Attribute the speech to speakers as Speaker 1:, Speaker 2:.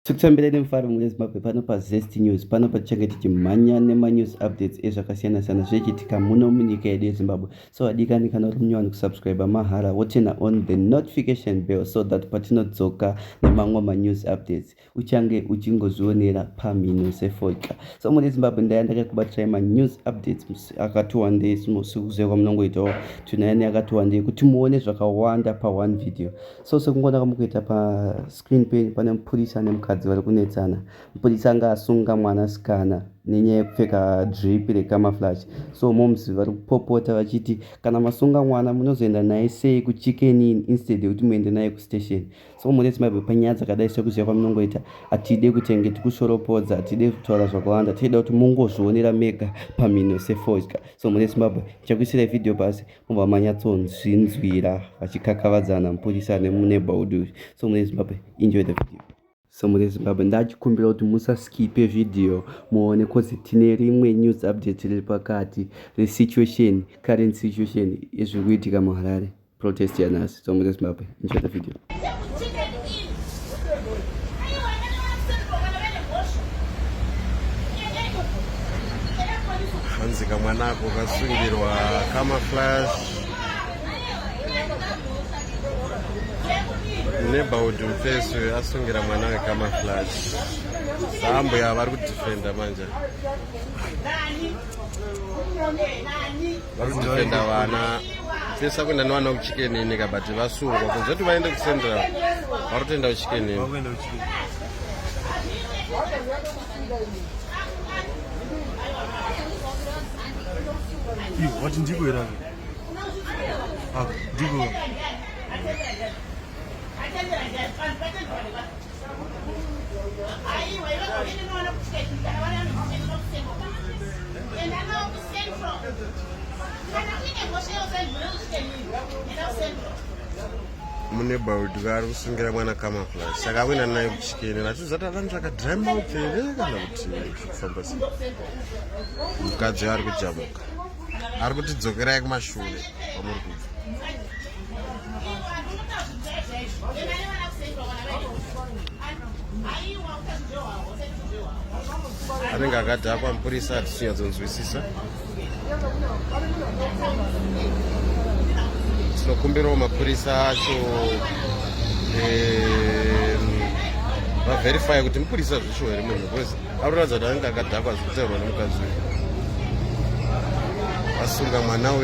Speaker 1: Tikufambira nemufaro mune Zimbabwe pano paZest News pano patichange tichimhanya nemanews updates ezvakasiyana siyana zvichiitika muno munyika yedu yeZimbabwe so adikani kana uri munyowani kusubscribe mahara wotena on the notification bell so that patinodzoka nemamwe manews updates uchange uchingozvionera pamhino sefoika so mune Zimbabwe ndaya ndakakubatirai manews updates akati wandei sikuziva kwamunongoitawo tunayani akati wandei kuti muone zvakawanda pa one video so sekungonaka mukuita pa Screen pen pane mupurisa nemukadzi vari kunetsana. Mupurisa anga asunga mwana sikana nenyaya yekupfeka drip recamouflage. So moms vari kupopota vachiti kana masunga mwana munozoenda naye sei kuchicken in instead yekuti muende naye kustation. So muresi maibve panyaya dzakadai sekuziva kwamunongoita hatide kutenge tikushoropodza hatide kutaura zvakawanda tichida kuti mungozvionera mega pamhino sefodya. So muresi maibve ndichakuisirai video basi. kubva manyatsonzvinzwira vachikakavadzana mupurisa nemuneighborhood uyu so mune zimbabwe enjoy the video so mune zimbabwe ndachikumbira kuti musaskipe vhidhiyo muone kozi tine rimwe news update riri pakati resituation current situation ezviri kuitika muharare protest yanhasi So I'm just Mbappe. Enjoy the video.
Speaker 2: Hanzika mwanako kasungirwa camouflage neighborhood mfesi uyo asungira mwana wecamouflage saambuya vari kudefenda manje Nani? Nani? vari kudefenda vana pesa kuenda nevana kuchikenini ka but vasungwa kunze kuti vaende kucentral vari kutoenda kuchikenini
Speaker 3: vati ndiko here ah, ndiko
Speaker 2: mune baudi vari kusungira mwana kamaflas saka akuenda naye kuchikene vachizati avanhu zvakadrima utere kana kuti kufamba sei mukadzi ari kujamuka ari kuti dzokerai kumashure kwamuri kubva anenge akadhakwa mupurisa hatisinyadzonzwisisa tinokumbirawo mapurisa acho vaverifye kuti mupurisa zvisho here munhu Arikuratidza kuti anenge akadhakwa zvekuteerwa nemukadzi uyu. Asunga mwana uyu.